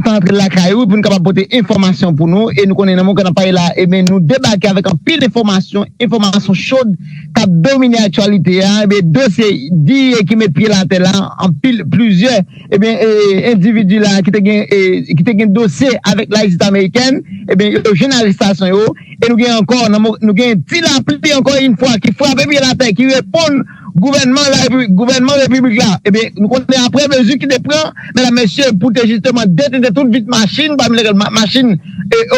Sa antre lakay ou pou nou kapab pote enfòmasyon pou nou e nou konnen nan moman pale la ebyen nou debake avèk anpil enfòmasyon, enfòmasyon chod kap domine aktyalite a ebyen dosye diye ki met pye l atè la anpil plizyè ebyen endividi la ki te gen dosye avèk lajistis amerikèn ebyen yo jwenn arestasyon yo e nou gen ankò nou gen ti lapli ankò in fwa ki frape pye l atè ki reponn Gouvènman repiblik la, ebyen nou konnen aprè mezi ki te pran, medam mesye, pou te jisteman detente tout vit machin pami lèkèl machin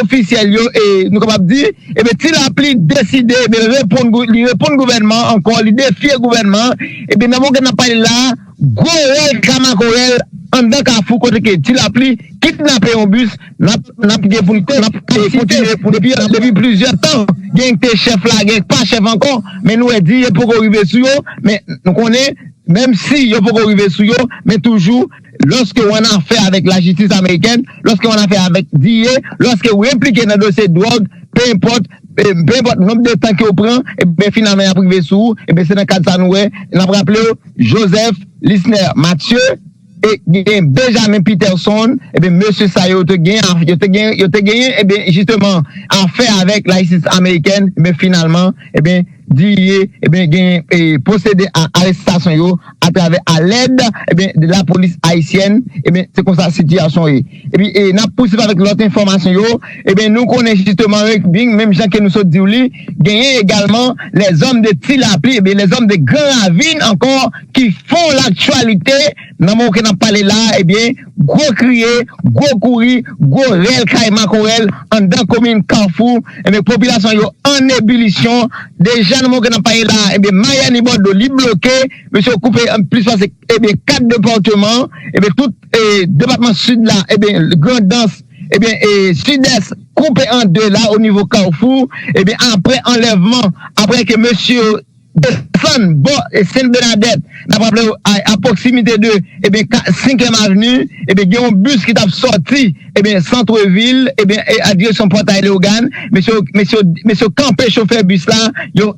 ofisyèl yo e nou kapab di, ebyen ti lapli deside ebyen reponn, li reponn gouvènman an ankò, li defye gouvènman an, ebyen nan moman ke n ap pale la a, gwo rèl ka makorèl anndan kafou kote ke ti lapli kidnape yon bis. N ap gen pou n te, n ap kontinye pou n te. Depi plizyè tan, gen k te chèf la, gen k pa chèf ankò, men nou wè di yo poko rive sou yo, men nou konnen menm si yo poko rive sou yo, men toujou lòske w annafè avèk lajistis amerikèn, lòske w annafè avèk dia, lòske w enplike nan dosye dwòg, pe enpòt, pe enpòt nonb de tan ke w pran, ebyen finalman y ap rive sou ou, ebyen se nan kad sa nou wè, n ap raple w, Joseph Lisner Mathieu. e gen Benjamin Peterson, ebyen mesye sa yo te gen a, yo te gen, yo te genyen ebyen jisteman afè avèk lajistis amerikèn, ebyen finalman ebyen Didier ebyen genyen e pwosede a arestasyon yo atravè alèd ebyen de lapolis ayisyèn, ebyen se konsa sitiyasyon ye. Epi n ap pousuiv avèk lòt enfòmasyon yo, ebyen nou konnen jisteman Regbing, menm jan ke nou sot di w li, genyen egalman lèzòm de Ti Lapli, ebyen lèzòm de Gran Ravin ankò ki fon laktyalite nan moman ke n ap pale la a, ebyen gwo kriye, gwo kouri, gwo rèl kay makorèl anndan komin Kafou, ebyen popilasyon an yo an ebilisyon, deja nan moman ke n ap pale la a, ebyen Mayani Bòdlo li bloke, mesye yo koupe plis pase ebyen 4 depatman, ebyen tout. Depatman Sid la, ebyen Grandans, ebyen Sidès koupe an 2 la o nivo Kawfou, ebyen apre anlèvman, apre ke mesye yo desann bò Sen Bènadèt, n ap raple w a pwoksimite de ebyen 5 èm avni, ebyen gen yon bis ki t ap sòti ebyen Santrevil, ebyen a direksyon Pòtay Leyogàn, mesye yo kanpe chofè bis la, yo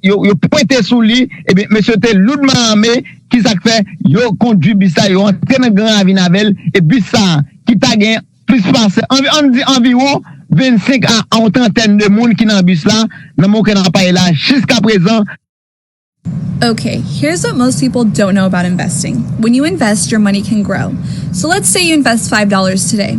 pwente sou li, ebyen mesye yo te loudman ame. Ki sa k fè yo kondui bis la, yo antre nan Gran Ravin avè l e bis sa a ki ta gen plis pase, an n di anviwon 25 a yon trantèn de moun ki nan bis la nan moman ke n ap pale la a jiskaprezan. Ok here's what most people don't know about investing when you invest your money can grow so let's say you invest five dollars today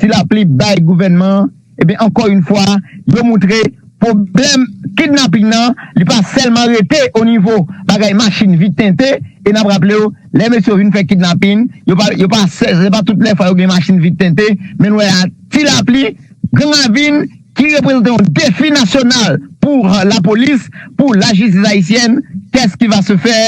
Ti lapli bay gouvènman an ebyen ankò yn fwa yo moutre pwoblèm kidnaping nan li pa sèlman rete o nivo bagay machin vit tente e nap raplew lè mesye yo vin fè kidnaping yo pa yo pa se pa tout lè fwa yo gen machin vit tente men nou wè a ti lapli gang la vin ki reprezante yon defi nasyonal pou lapolis pou lajistis ayisyèn kès ki va se fè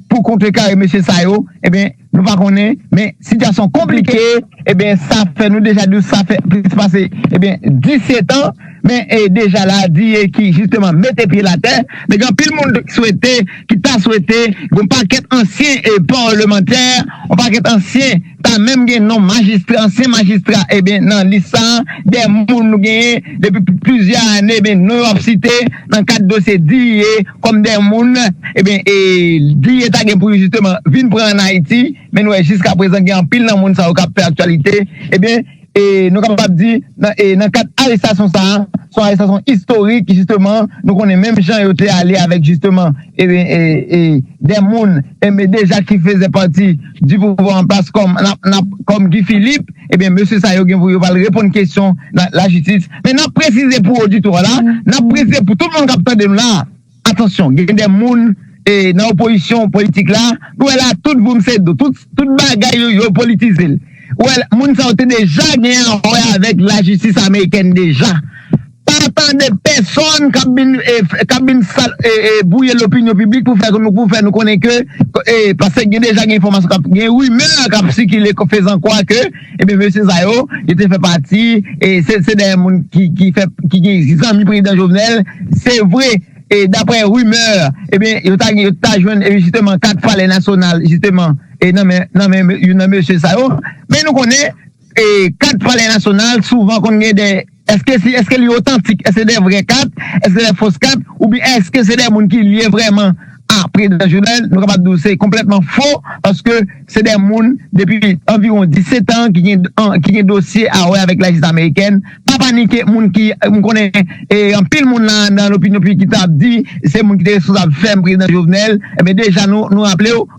pou kontrekare mesye sa yo ebyen. Nou pa konnen, men sitiyasyon konplike, ebyen sa fè nou deja di w sa fè plis pase ebyen 17 an, men deja la diye ki jisteman mete pye l atè, men gen anpil moun ki swete, ki ta swete, gen yon pakèt ansyen parlemantè, yon pakèt ansyen, ta menm gen non majistra, ansyen majistra ebyen nan lis sa, de moun nou genyen depi plizyè ane ebyen non yo ap site. nan kad dosye Diye kòm dè moun ebyen e Diye ta gen pou jisteman vin pran an Ayiti men nou wè jiska prezan gen anpil nan moun sa yo kap fè aktyalite ebyen e nou kapab di e nan kad arestasyon sa son arestasyon istorik jisteman nou konnen menm jan yo te ale avèk jisteman ebyen e dè moun ebyen deja ki fezè pati di pouvwa an plas kòm Guy Philippe ebyen mesye sa yo gen pou yo pral reponn kesyon nan lajistis. Men nap presize pou oditwa la, nap presize pou tout moun kap tande nou la, atansyon gen de moun nan opozisyon politik la, nou wè la tout voum se do, tout bagay yo yo politize l. Ou wè moun sa yo te deja gen yon wè avèk lajistis amerikèn deja. Pa tande pèsòn kap vin kap vin sal e bwouye lopinyon piblik pou fè pou fè nou konnen ke pase gen deja gen enfòmasyon kap gen rimè kap sikile fezan kwa ke Ebyen mesye sa yo, yo te fè pati, se dèyè moun ki fè, ki gen zanmi prezidan Jovenel, se vre, daprè rimè, ebyen yo ta gen, yo ta jwenn jisteman kat palè nasyonal jisteman nan men, nan men youn nan mesye sa yo, men nou konnen kat palè nasyonal souvan konn gen dè. Eske si eske li otantik, eske se de vrè kat, eske se de fos kat, oubyen eske se de moun ki lye vrèman a prezidan Jovenel, nou kapab di w se konplètman fo, paske se de moun depi anviwon 17 an ki gen dosye a wè avèk lajistis amerikèn, pa panike moun ki, m konnen anpil moun la nan lopinyon piblik ki ta di se moun ki te responsab fèm prezidan Jovenel, enben deja nou raple w.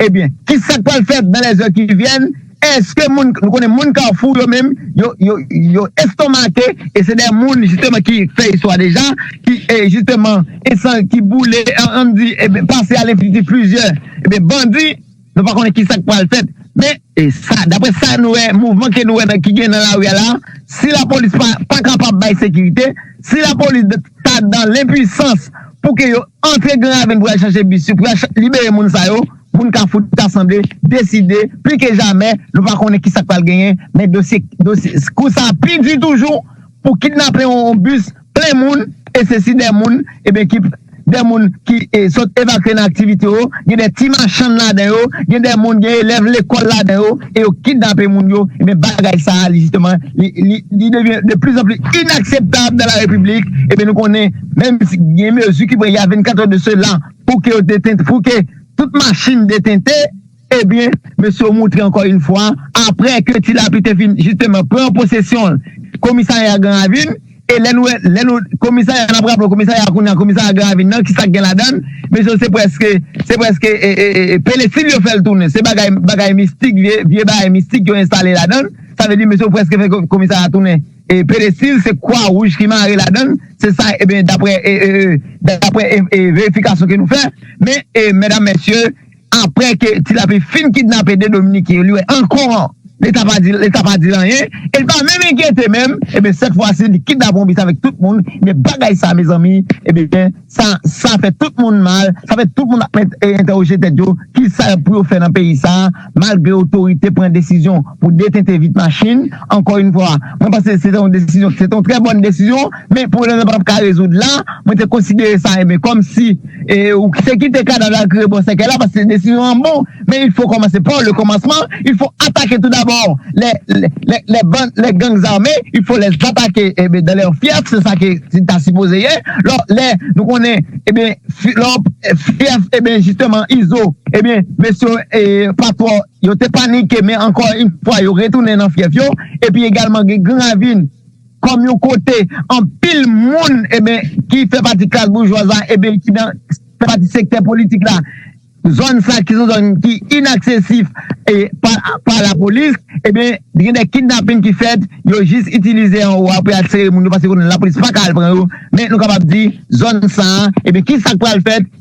Ebyen, ki sa k pral fèt dan lèzè ki vyèn? Èske moun, nou konnen moun Kafou yo menm, yo, yo, yo estonmake e se dè moun jisteman ki fè istwa deja, ki e jisteman esan ki boule an an di e pase a lenfinitif plizyè e bandi, nou pa konnen ki sa k pral fèt men. E sa, daprè sa nou wè, mouvman ke nou wè nan ki gen nan lari a la, si lapolis pa pa kapab bay sekirite, si lapolis ta dan lenpuisans pou ke yo antre Gran Ravin pou al chache bis yo, pou al libere moun sa yo, moun Kafou ta sanble deside pli ke jamè, nou pa konnen ki sa k pral genyen, men dosye, dosye, kou sa pi di toujou pou kidnape yon bis. Plen moun, e se si de moun, ebyen ki de moun ki sot evakye nan aktivite yo, gen de ti machann ladan yo, gen de moun, gen elèv lekòl ladan yo, e yo kidnape moun yo, ebyen bagay sa a li jisteman li devyen de plis an plis inakseptab dan la repiblik, ebyen nou konnen menm si gen mezi ki pran ya 24 è de sela pou ke yo detente, pou ke tout machin detente. Ebyen, mesye yo moutre ankò yn fwa, aprè ke Ti Lapli te fin jisteman pran posesyon komisarya Gran Ravin, e lè nou wè, lè nou, komisarya, n ap raple w, komisarya a kounya, komisarya Gran Ravin nan, ki sa k gen ladan l, mesye yo se prèske, se prèske pelesin yo fè l tounen, se bagay, bagay mistik, vye, vye bagay mistik yo enstale ladan l, sa vle di mesye yo prèske fè komisarya a tounen pelesin, se kwa wouj ki mare ladan l, se sa, ebyen, daprè, daprè verifikasyon ke nou fè, men, mèdam, mèsye, Aprè ke Ti Lapli fin kidnape 2 dominiken yo li wè ankò leta pa di leta pa dil anyen el pa menm enkyete menm ebyen sèt fwa si li kidnape yon bis avèk tout moun ebyen bagay sa mezanmi ebyen sa sa fè tout moun mal sa fè tout moun ap entèwoje tèt yo kisa yo pou yo fè nan peyi sa malgre otorite pran desizyon pou detente vit machin ankò yn fwa mwen panse se te yon desizyon se te yon trè bòn desizyon. Men pou rezon pap ka rezoud la, mwen te konsidere sa enben kòm si ou se kite kadav la kre bò sèkèy la paske desizyon an bon men il fo kòmanse par le kòmansman il fo atake tou dabò lè gang zame il fo lè atake enben dan lè fyèf se sa ke ta sipoze ye lò lè nou konnen enben lò fyèf enben jisteman izo enben mesye yo pa twò yo te panike men ankò in fwa yo retounen nan fyèf yo epi egalman gen gravin. kòm yon kote anpil moun eben ki fè pati klas boujwaz la eben ki nan fè pati sektè politik la zòn sa ki son zòn ki inaksesif e pa la polis eben gen de kidnapin ki fèt yo jis itilize an ou a pou y al sere moun yo paske konnen la polis pa ka al pran yo men nou kapab di zòn sa eben ki sak pral fèt.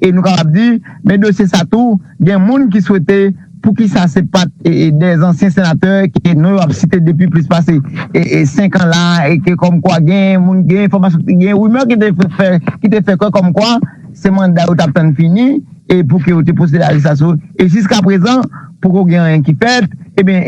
E nou kapab di, men dosye sa tou, gen moun ki swete poukisa se pat 2 zansyen senatè ke non yo ap site depi plis pase 5 an la e ke kòm kwa gen moun, gen enfòmasyon, gen rimè ki te fè, ki te fè kwè kòm kwa se manda yo t ap tann fini e pou ke yo te pwosede a arestasyon e jiskaprezan poko gen anyen ki fèt. Ebyen,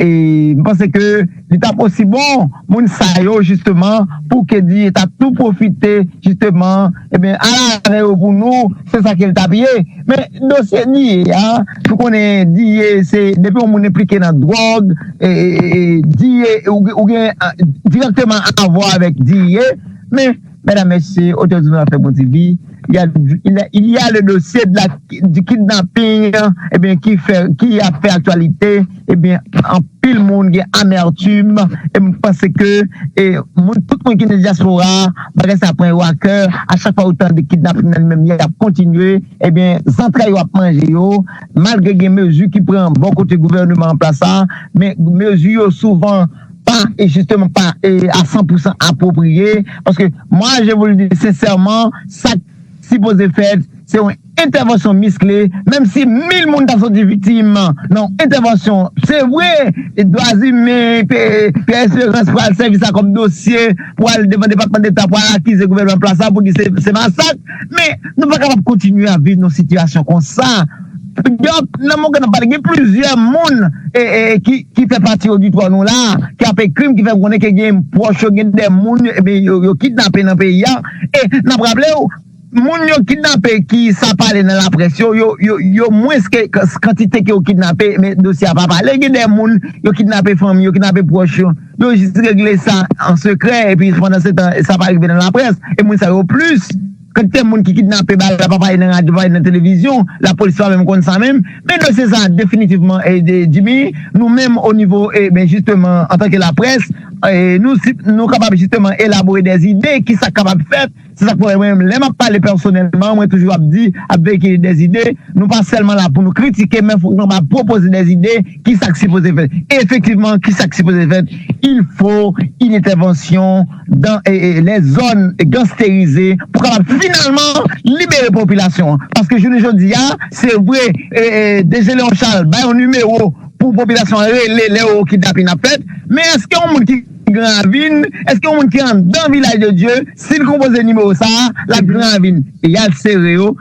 m panse ke. Li tap osi bon moun sa yo jisteman pou Kedy ta tou pwofite jisteman ebyen al avè yo pou nou se sa kel tap ye men dosye Diye a nou konnen Diye se depi yon moun enplike nan dwòg Diye ou gen dirèkteman avwa avèk Diye men Medam mesye otorite nou ap fè bon TV il ya le dosye de la di kidnaping ebyen ki fè ki ap fè aktyalite ebyen anpil moun gen amertim em panse ke e moun tout moun ki nan diaspora bagay sa pran yo a kè a chak fwa yo tande kidnaping nan li menm li ap kontinye ebyen zantray yo ap manje yo malgre gen mezi ki pran bò kote gouvèneman an plas la men mezi yo souvan pa jisteman pa a san pou san apwopriye, paske mwa je vou l di sensèman sa k sipoze fèt se yon entèvansyon miskle, menm si mil moun ta soti viktim nan yon entèvansyon se vre dwazimen Pierre Esperance pral sèvi sa kòm dosye pou al devan depatman deta pou al akize gouvènman an plas la pou di se masak men nou pa kapab kontinye ap viv nan yon sitiyasyon konsa. Nan moman nou pale gen plizyè moun ki fè pati oditwa nou la ki ap ekri m ki fè m konnen ke gen pwòch yo gen de moun yo kidnape nan peyi a e n ap raple w moun yo kidnape ki sa pale nan laprès yo yo mwens ke kantite ke yo kidnape men dosye a pa pale gen de moun yo kidnape fanmi yo kidnape pwòch yo yo jis regle sa an sekrè epi pandan se tan sa pa rive nan laprès e moun sa yo plis. Kantite moun ki kidnape ba la pa pale nan radyo, pa pale nan televizyon, lapolis pa menm konn sa menm. Men dosye sa definitivman Jimmy, nou menm o nivo ben jisteman antanke laprès, nou kapab jisteman elabore des idées ki sa k kapab fèt. Se sa k fè mwen lè m ap pale pèsonèlman mwen toujou ap di ap vekile des idées, nou pa sèlman la pou nou kritike men fòk nou kapab pwopoze des idées ki sa k sipoze fèt? Efektivman, ki sa k sipoze fèt? Il fo yn entèvansyon dan lè zòn gansterize pou kapab finalman libere popilasyon an. Paske jounen jodi a, se vre DG Léon Charles bay yon nimewo pou popilasyon an rele lè yon kidnapin ap fèt, men èske yon moun ki Gran Ravin, èske yon moun ki anndan Vilaj de Dye, si l konpoze nimewo sa a, l ap Gran Ravin e y al sere yo?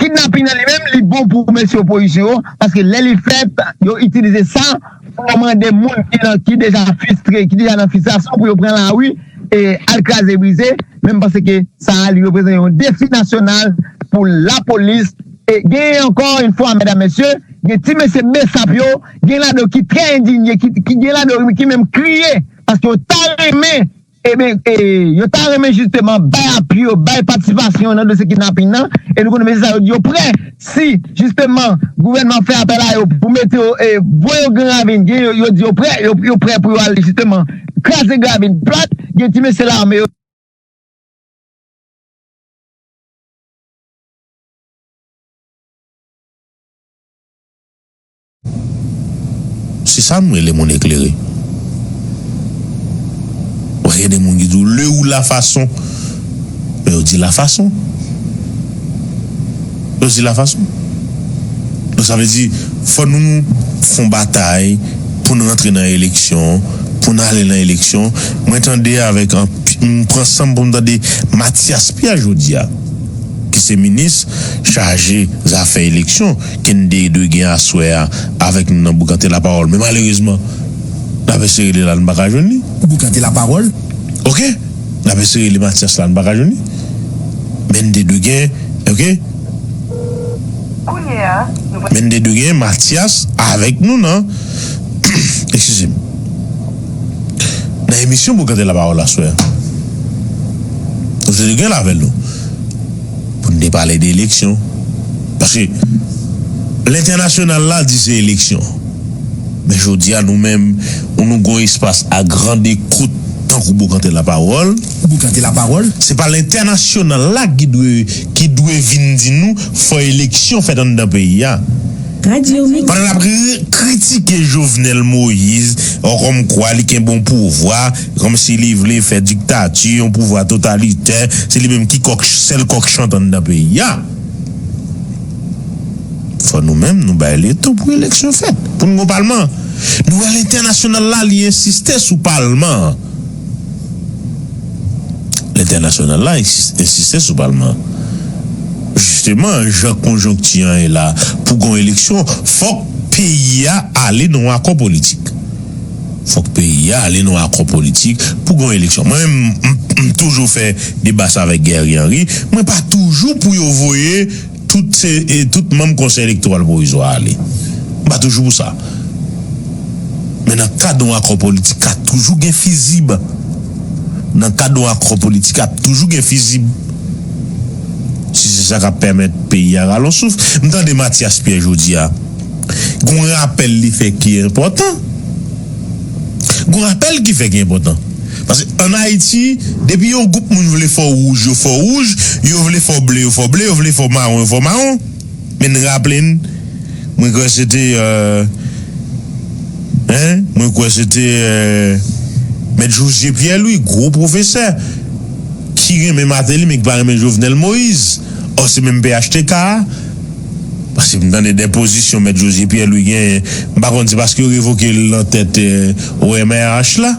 Kidnaping nan li menm li bon pou mesye opozisyon yo paske lè li fèt yo itilize sa pou yo mande moun ki nan ki deja fistre ki deja nan fistrasyon pou yo pran lari e al kraze brize menm pase ke sa li reprezan yon defi nasyonal pou lapolis e gen ankò yon fwa mèdam mesye gen ti mesye besap yo gen ladan ki trè endinye ki gen ladan ki menm kriye paske yo ta renmen Ebyen, yo ta renmen jisteman bay apui yo, bay patisipasyon yo nan dosye kidnaping nan, e nou konnen mesye sa yo di yo prè, si jisteman gouvènman an fè apèl a yo pou mete yo, voye yo Gran Ravin, gen yo, yo di yo prè, yo prè pou yo al jisteman kraze Gran Ravin plat, gen ti mesye lame yo. Se sa m rele moun eklere. W'a gen de moun ki di w le ou la fason. Men yo di la fason. Yo di la fason. Donk sa vle di fò nou f'on batay pou n rantre nan eleksyon, pou n ale nan eleksyon. Mwen tande avèk anpi, m pran san m pou m tande Matyas Pè jodi a ki se minis chaje zafè eleksyon. Kennedy dwe gen aswè a avèk nou nan Boukante Lapawòl men malerezman n ap eseye li la n pa ka jwenn li. Boukante Lapawòl, ok, n ap eseye li Matyas la n pa ka jwenn li men n te dwe gen ok men n te dwe gen Matyas avèk nou nan ekskize m nan emisyon Boukante Lapawòl aswè a nou te dwe gen l avè nou. Pou n te pale de eleksyon. Paske lentènasyonal la di se eleksyon. Men jodi a nou menm ou nou gon espas a grande kot tankou Bokante Lapawòl. Bokante Lapawòl. Se pa lentènasyonal la ki dwe ki dwe vi n di nou fò eleksyon fèt anndan peyi a. Radio Mix. Pandan n ap kritike Jovenel Moïse kòmkwa li kenbe yon pouvwa. Kòmsi li vle fè diktati, yon pouvwa totalitè, se li menm ki kòk sèl kòk chantant nan peyi a. Fò nou menm nou bay li tan pou eleksyon fèt, pou n gon palman. Nou wè lentènasyonal la li ensiste sou palman an. Lentènasyonal la ensiste sou palman an. Jisteman jan konjonkti an ye la pou gon eleksyon fòk peyi a ale nan yon akò politik. Fòk peyi a ale nan akò politik pou gen yon eleksyon. Mwen menm m toujou fè deba sa avèk Guerrier Henry, mwen pa toujou pou yo voye tout se tout manm konsèy elektoral pwovizwa a ale. M pa toujou pou sa. Men nan kad yon akò politik ka toujou gen fizib. Nan kad yon akò politik ap toujou gen fizib. Si se sa k ap pèmèt peyi a rale yon souf. M tande Mathias Pierre jodi a. gen yon rapèl li fè ki enpòtan, gen yon rapèl ki fè ki enpòtan. Paske an Ayiti, depi yon gwoup moun vle fè w wouj, yo fè w wouj, yo vle fè w ble, yo fè w ble, yo vle fè w mawon, yo fè w mawon. Men n raple n, mwen kwè se te, mwen kwè se te Mèt Jozye Pyè Lwi, gwo pwofesè, ki renmen Mateli men ki pa renmen Jovenel Moyiz, ò se menm phtk a. Paske m tande de pozisyon mèt José Pierre Louis genyen, m pa konn se paske yo revoke l nan tèt OMRH la?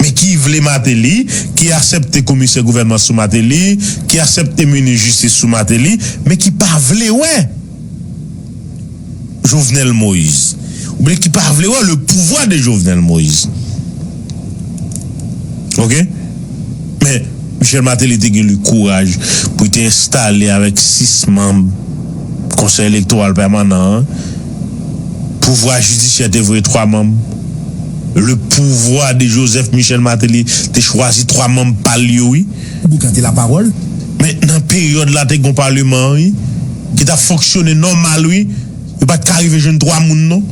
Men ki vle Martelly, ki asèpte komisè gouvènman sou Martelly, ki asèpte minis jistis sou Martelly, men ki pa vle wè Jovenel Moïse, oubyen ki pa vle wè le pouvoir de Jovenel Moïse. Ok men Michel Martelly te gen li kouraj pou li te enstale avèk 6 manb konsèy elektoral pèmanan an pouvwa jidisyè te voye 3 manb le pouvwa de Joseph Michel Martelly te chwazi 3 manb pa l yo wi. Boukan te la pawòl men nan peryòd la te gon paleman wi ki tap fonksyone nòmal wi. Yo pa t ka rive jwenn twa moun non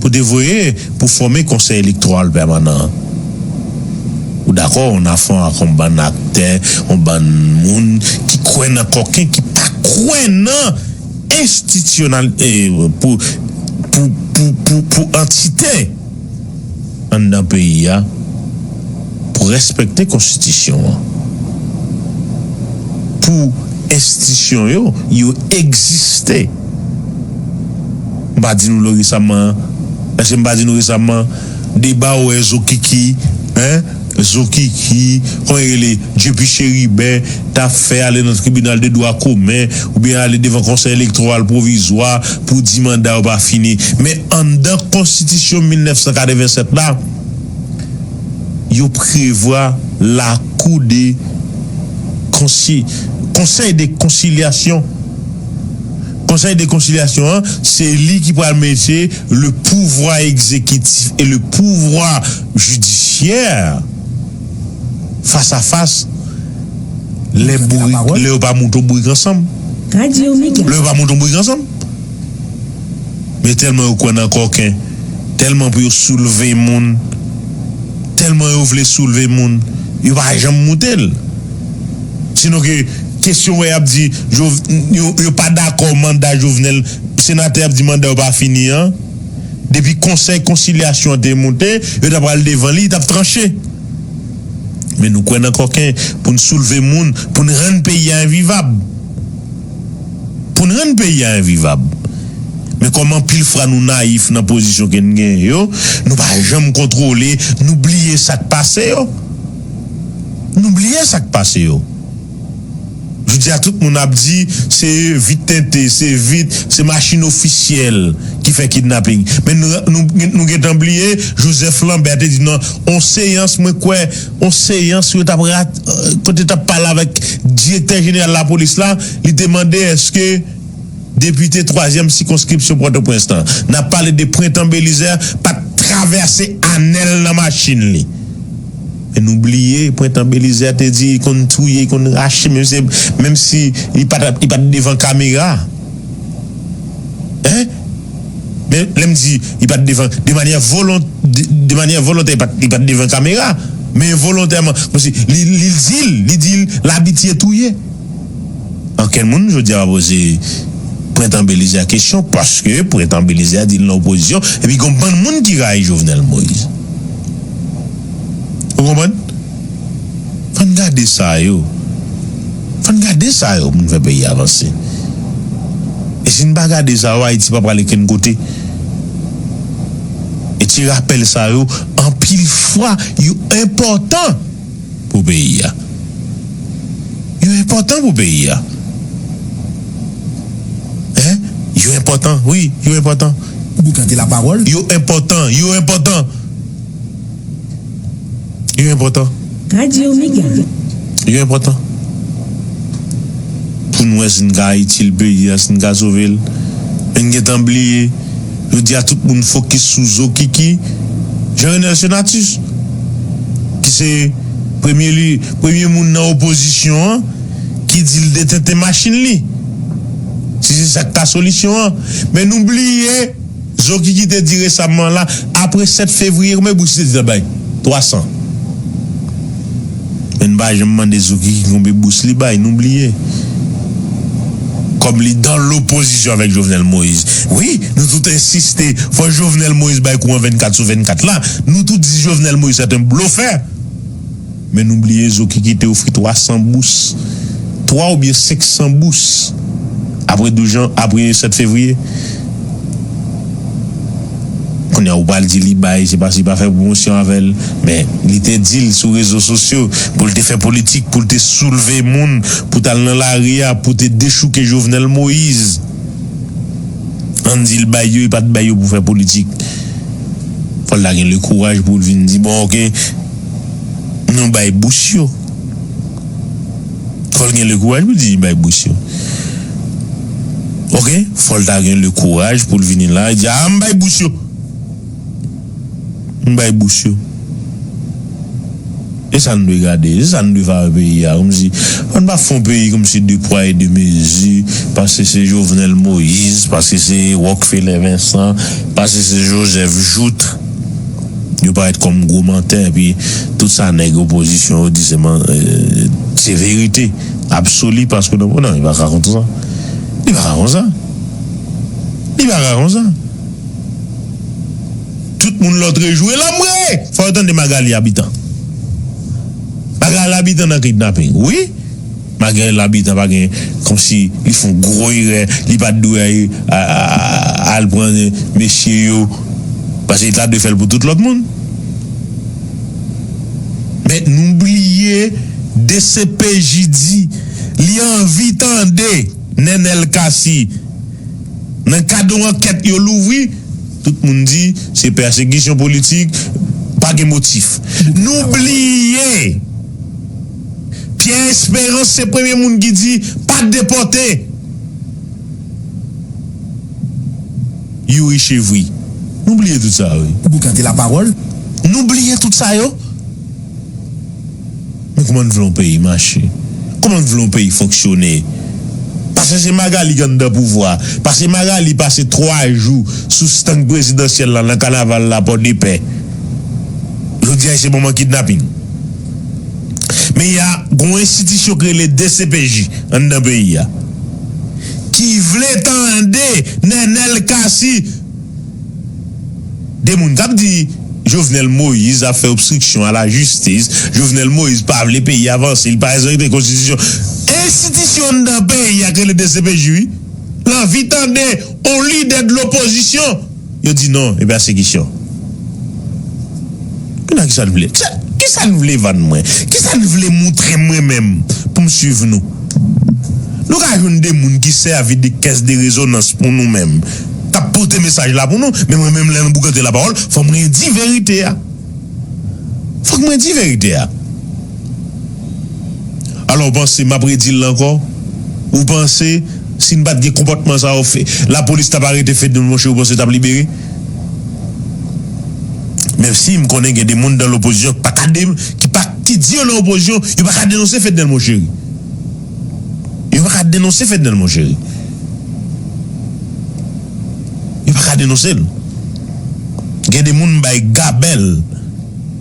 pou te voye pou fòme Konsèy Elektoral Pèmanan an. Ou dakò yon nafon ak yon bann aktè, yon bann moun ki kwè nan kòken ki pa kwè nan enstitisyonal pou pou pou pou antite. anndan peyi a pou respekte konstitisyon an, pou enstisyon yo yo egziste. M pa di nou lo resaman, èske m pa di nou resaman deba ou e zokiki? Zokiki, kòman li rele, Dyepi Cheribin, ta fè ale nan tribinal de dwa komen oubyen ale devan konsèy elektowal pwovizwa pou di manda yo pa fini. Men anndan konstitisyon 1987 la, yo prevwa lakou de konsi, konsèy de konsilyasyon. Konsèy de konsilyasyon an, se li ki pral mete le pouvwa egzekitif e le pouvwa. jidisyè fas a fas lè bourik lè yo pa mouton bourik ansanm lè yo pa mouton bourik ansanm men tèlman yo kwè nan kòken tèlman pou yo soulve moun tèlman yo vle soulve moun yo pa janm moute l sinon ke kesyon wè y ap di yo pa dakò manda jovenel senatè ap di manda yo pa fini an. depi konsèy konsilyasyon an te moute, yo ta pral devan li, li t ap tranche. Men nou kwè nan kòken pou n soulve moun, pou n rann peyi a envivab. Pou n rann peyi a envivab. Men kòm anpil fra nou nayif nan pozisyon ke n genyen yo, nou pa janm kontwole, nou bliye sa k pase yo. Nou bliye sa k pase yo. Jodi a tout moun ap di se vit tente, se vit, se machin ofisyèl ki fè kidnaping. Men nou gentan bliye Joseph Lambert te di nan on seyans mwen kwè, on seyans yo tap kote tap pale avèk direktè jeneral lapolis la, li te mande eske. Depite twazyèm sikonskripsyon Pòtoprens lan, n ap pale de Prentan Belizè pa t travèse anèl nan machin li. Men nou bliye Prentan Belizè te di li konn touye, li konn rache menm se menm si li pa t li pa t devan kamera. Hein? Men lè m di li pa t devan de manyè volon de manyè volontè li pa t li pa t devan kamera men volontèman kòmsi li li di l li di l l abitye touye. Ankenn moun jodi a pa poze Prentan Belize a kesyon paske Prentan Belize a di li nan opozisyon epi gen yon bann moun ki rayi Jovenel Moise. Ou konprann? Fò n gade sa yo. Fò n gade sa yo pou n fè peyi a vanse. E si n pa gade sa yo Ayiti pa pral okenn kote. E ti rapèl sa yo anpil fwa yo enpòtan. pou peyi a. Yo enpòtan pou peyi a. Hein, yo enpòtan wi, yo enpòtan. Boukan te lapawòl. Yo enpòtan, yo enpòtan. Yo enpòtan. Radio Mega. Yo enpòtan. Pou n wè si n ka itil peyi a, si n ka sove l. Men n gen tan bliye. Jodi a tout moun fokis sou Zokiki, Jean Renel Senatus. ki se premye li premye moun nan opozisyon an ki di l detente machin li si se sa k ta solisyon an men nou bliye zokiki te di resamman la apre 7 fevriye konbyen bout li te di l ap bay 300. Men n pa janm mande Zouki ki konbe bous li bay. Nou bliye. Kòm li dan lopozisyon avèk Jovenel Moïse. Wi, nou tout ensiste fò Jovenel Moïse bay kou an 24 sou 24 la. Nou tout di Jovenel Moïse sèt en blofè. Men nou bliye Zouki ki te ofri 300 bous. 3 oubyen 500 bous. Apre 12 jan, apre 7 fevriye. Kounye a ou pral di li bay, se paske li pa fè pwomosyon avè l. Men, li te di l sou rezo sosyo pou l te fè politik, pou l te soulve moun, pou t al nan lari a, pou te dechouke Jovenel Moise. An n di l bay yo, li pa t bay yo pou fè politik. Fò l ta gen lekouraj pou l vin di bon ok, nou bay bous yo. Fò l gen lekouraj pou l di li bay bous yo. Ok fòl ta gen le kouraj poul vini la e di aa m bay bous yo m bay bous yo e sa n dwe gade e sa n dwe fè a peyi a kòmsi ann pa fon peyi kòmsi de pwa e de mezi paske se jovenel moïse paske se rockefeller vincent paske se joseph jouthe yo parèt kòm gwo mantè epi tout sa nèg opozisyon yo di se verite. Absoli paske nou non li paka konsa li paka konsa li paka konsa tout moun lotre jwe la mwe fò yo tande magalie abitan magalie abitan nan kidnapping wi magalie abitan pa gen komsi li fon gro erè li pat dwe al pran mesye yo paske li ta dwe fèl pou tout lot moun. Men nou bliye dcpj di li anvi tande Nenel Cassy nan kad yon ankèt yo louvri, tout moun di se pèsekisyon politik, pa gen motif. Nou bliye Pierre Esperance se premye moun ki di pa depòte. Youri chevri Nou bliye tout sa wi. Ou boukan te la parol Nou bliye tout sa yo. Men kouman n vle yon peyi mache Kouman n vle yon peyi fonksyone Pase se Magalie ki anndan pouvwa Pase Magalie pase 3 jou sou stand prezidansyèl la nan kanaval la pòdepè Jodi a li se manman kidnaping. Men ya gon enstitisyon k rele dcpj anndan peyi ya ki vle tande Nenel Cassy gen moun kap di Jovenel Moïse ap fè obstriksyon a la jistis Jovenel Moïse pa vle peyi ya vanse li pa respekte konstitisyon enstitisyon anndan peyi ya k rele dcpj wi l anvi tande on lidè dlopozisyon Yo di non e pèsekisyon. Kounye a kisa n vle? Kisa n vle vann mwen? Kisa n vle moutre m mwen menm pou m swiv nou? Nou ka jwenn de moun ki sèvi de kès de rezonans pou nou menm, k ap pote mesaj la pou nou, men mwen menm lè nou boukante lapawòl fò mwen di verite a. Fòk mwen di verite a. Alò w panse, m ap redi l ankò, ou panse si n pa t gen konpòtman sa yo lapolis t ap arete Fednol monchè ou panse yo t ap libere? Menm si m konnen gen de moun nan lopozisyon ki pa ka ki pa ki di yo nan opozisyon yo pa ka denonse Fednèl Moncheri yo pa ka denonse Fednèl Moncheri yo pa ka denonse l gen de moun m bay gabèl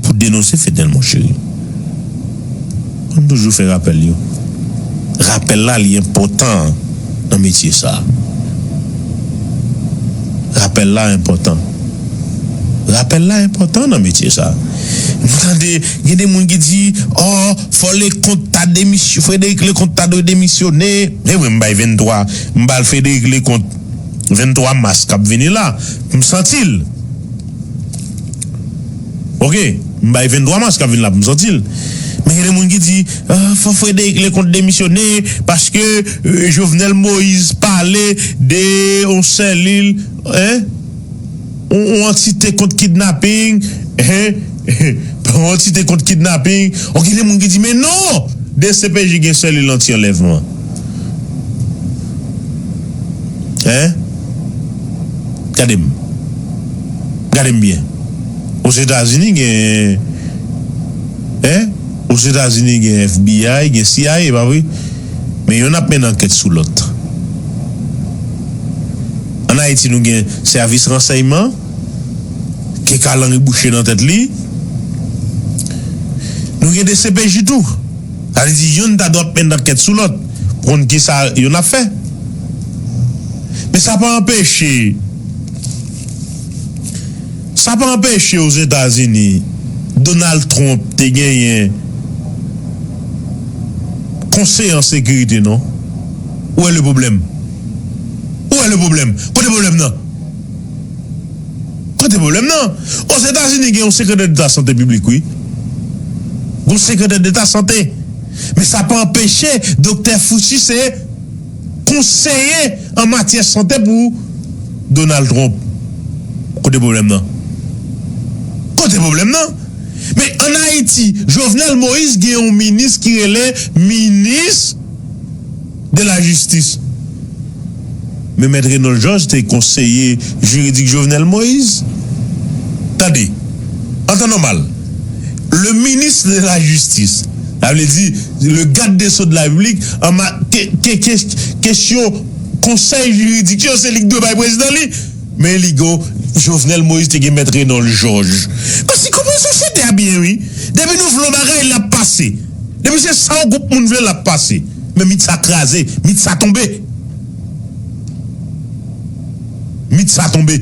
Pou denonse fedel mon cheri. An n toujou fè rapèl yo. Rapèl la li enpòtan nan metye sa. Rapèl la enpòtan. Rapèl la enpòtan nan metye sa. Nou tande gen de moun ki di oh fò Leconte ta demisyon Frederic Leconte ta dwe demisyone. E mwen m bay 23 m ba l Frederic Leconte 23 mas k ap vini la. M santi l. Ok m bay 23 mars kap vin la pou m santi l men gen de moun ki di fò Frédéric Leconte demisyone paske Jovenel Moïse pale de yon sèlil hein yon antite kont kidnapping hein yon antite kont kidnapping ok gen de moun ki di men non dcpj gen sèlil anti anlèvman hein. Gade m. Gade m byen. Ozetazini gen eh Ozetazini gen FBI, gen CIA, pa vre? Men yonn ap mennen ankèt sou lòt. An Ayiti nou gen sèvis ransèyman ke kalanri bouche nan tèt li. Nou gen dcpj tou. Sa vle di youn ta dwe ap menn ankèt sou lòt pou konn ki sa youn ap fè. Men sa pa anpeche sa pa anpeche Ozetazini Donald Trump te genyen Konseye an Sekirite non. Ou wè le pwoblèm? Ou wè le pwoblèm? Kote pwoblèm nan? Kote pwoblèm nan? Ozetazini gen yon sekretè deta sante piblik wi. Gen yon sekretè deta sante. Men sa pa anpeche doktè Fauci se konseye an matyè sante pou Donald Trump. Kote pwoblèm nan? Kote pwoblèm nan? Men an Ayiti, Jovenel Moïse gen yon minis ki rele minis. de la jistis. Men mèt Renold Georges te konseye jiridik Jovenel Moise. Tande, an tan nòmal, le ministre de la justice, sa vle di le gad de so de la repiblik, an ma te te ke kesyon konsèy jiridik yo se li ki dwe bay prezidan li, men li go Jovenel Moise te gen mèt Renold Georges. Pase konprann sosyete a byen wi. Depi nou vle yon bagay l ap pase. Depi se sa yon gwoup moun vle l ap pase. Men mit sa kraze, mit sa tonbe! Mit sa tonbe!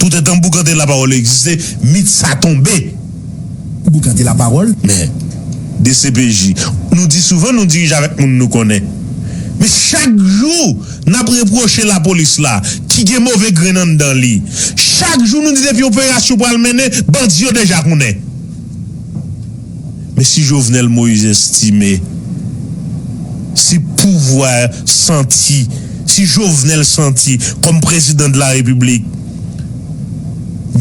Toutan tanm Boukante Lapawòl egziste, mit sa tonbe! Boukante Lapawòl? Men, dcpj, nou di souvan nou dirije avèk moun nou konnen. Men chak jou n ap repwoche Lapolis la, ki gen move grenn anndan li. Chak jou nou di depi operasyon pral mennen, bandi yo deja konnen. Men si Jovenel Moïse estime si pouvwa santi si Jovenel santi kòm prezidan de la repiblik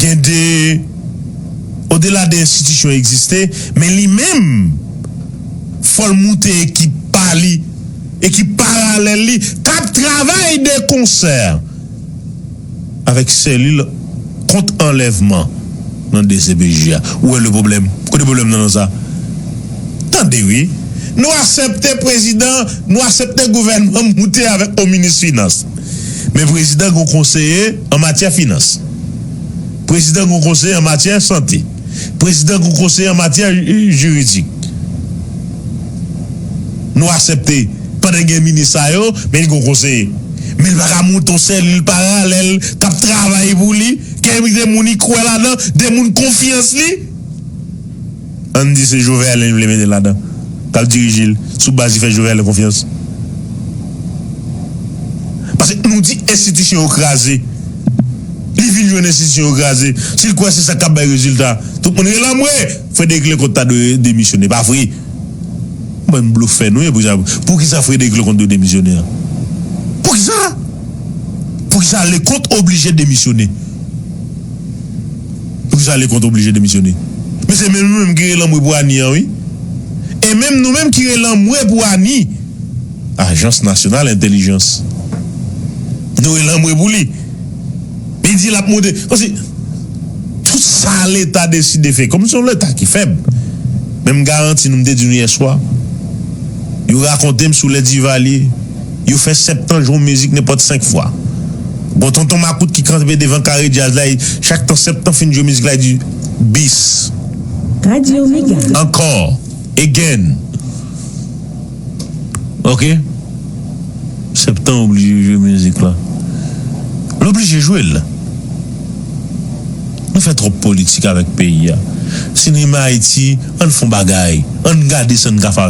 gen de odela de enstitisyon egziste men li menm fò l moute ekip pa li ekip paralèl li k ap travay de konsè. avèk selil kont anlèvman nan dcpj a ou wè le pwoblèm kote pwoblèm nan nan sa tande wi nou asèpte prezidan nou asèpte gouvènman moute avèk on minis finans men prezidan gon konseye an matyè finans prezidan gon konseye an matyè sante. Prezidan kou konseye an matyè jiridik. Nou asepte pandan gen minis sa yo men li kou konseye. Men li pa ka monte yon selil paralèl k ap travay pou li, k ap envite moun li kwè ladan, de moun konfyans li. Ann di se Jovenel li vle mete ladan, k ap dirije l sou baz li fè Jovenel konfyans. Paske nou di enstitisyon yo kraze. Li vin jwenn enstitisyon yo kraze. Si l kwè se sa k ap bay rezilta, tout moun rele anmwe! Frederic Leconte ta dwe demisyone. Pa vre? Bann blofè nou ye. Poukisa Frederic Leconte dwe demisyone an? Poukisa? Poukisa Leconte oblije demisyone? Poukisa Leconte oblije demisyone? Men se menm nou menm ki rele anmwe pou Annie an wi. E menm nou menm ki rele anmwe pou Annie. Ajans Nasyonal Entèlijans dwe lanmwe pou li. Li di l ap monte. Kòmsi tout sa leta deside fè, kòm se yon leta ki fèb. Men m garanti nou, m te di nou yèswa, yo rakonte m sou lè Divalye, yo fè septan jwe yon mizik nenpòt senk fwa. Gon tonton makout ki kanpe devan kare djaz la e chak tan septan fin jwe mizik la li di, bis. Radio Mega. Ankò. Again. Ok septan oblije jwe mizik la l oblije jwe l nou fè twòp politik avèk peyi a sinema ayiti ann fon bagay ann gade sa n ka fè avèk.